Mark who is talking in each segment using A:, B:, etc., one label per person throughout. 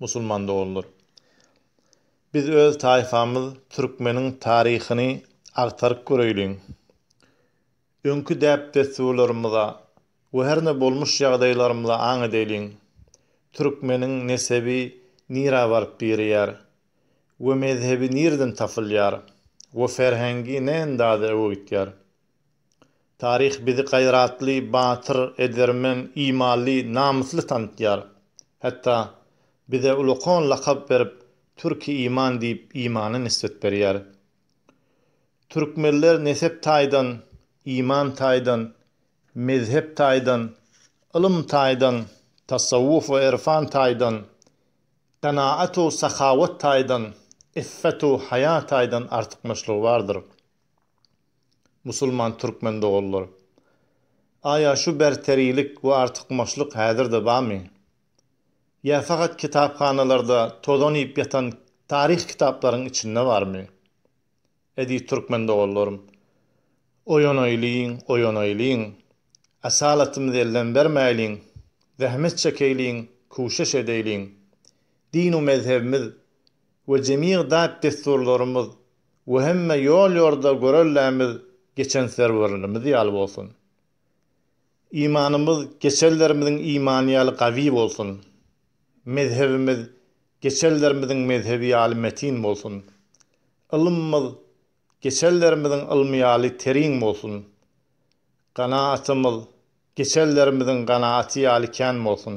A: Musulman doganlar! Biz öz taýpamyz türkmeniň taryhyny agtaryp göreýliň. Öňki däp-dessurlarymyza we herne bolmuş ýagdaýlarymyza aň edeýliň. Türkmeniň nesebi nirä baryp birýär we mezhebi nireden tapylýar we ferhengi ne endaza öwegitýär? Taryh bizi gaýratly, batyr, edermen, imanly, namysly tanatýar. Hatda bize ulakan lakap berip, Türki iman diýip, imana nisbet berýär. Türkmenler nesep taýdan, iman taýdan, mezhep taýdan, ylym taýdan, tasawwuf we erfan taýdan, kanaat-u sahawat taýdan, iffet-u haýa taýdan artykmaçlygy bardyr. Musulman türkmen doganlar! Aýa şu berterilik we artykmaçlyk häzir-de barmy? Ýa fakat kitaphanalarda tozan iýip ýatan taryh kitaplaryň içinde barmy? Eziz türkmen doganlarym! Oýanaýlyň, oýanaýlyň! Asalatymyzy elden bermäýliň! Zähmet çekeýliň, küşeş edeýliň! Din-u mezhebimiz we jemigdäp-dessurlarymyz we hemme ýol-ýorda görellämiz geçen serwerlerimiz ýaly bolsun. Imanymyz geçenlerimiziň imany ýaly gawy bolsun. Mezhebimiz geçenlerimiziň mezhebi ýaly metin bolsun. Ylymymyz geçenlerimiziň ylmy ýaly teriň bolsun. Ganaatymyz geçenlerimiziň ganaaty ýaly kän bolsun.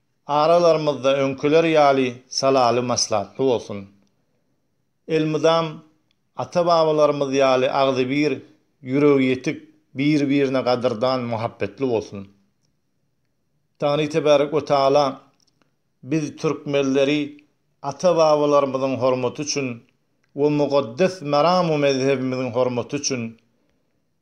A: Aralarymyzda öňkiler ýaly salaly maslahatly bolsun. Elmydam ata-babalarymyz ýaly agzybir, ýüregi ýetik, bir-birine gadyrdan, muhabbetli bolsun. Tangri Tebärek we Taala biz türkmenleri ata-babalarymyzyň hormaty üçin we mugeddes meram-u mezhebimiziň hormaty üçin,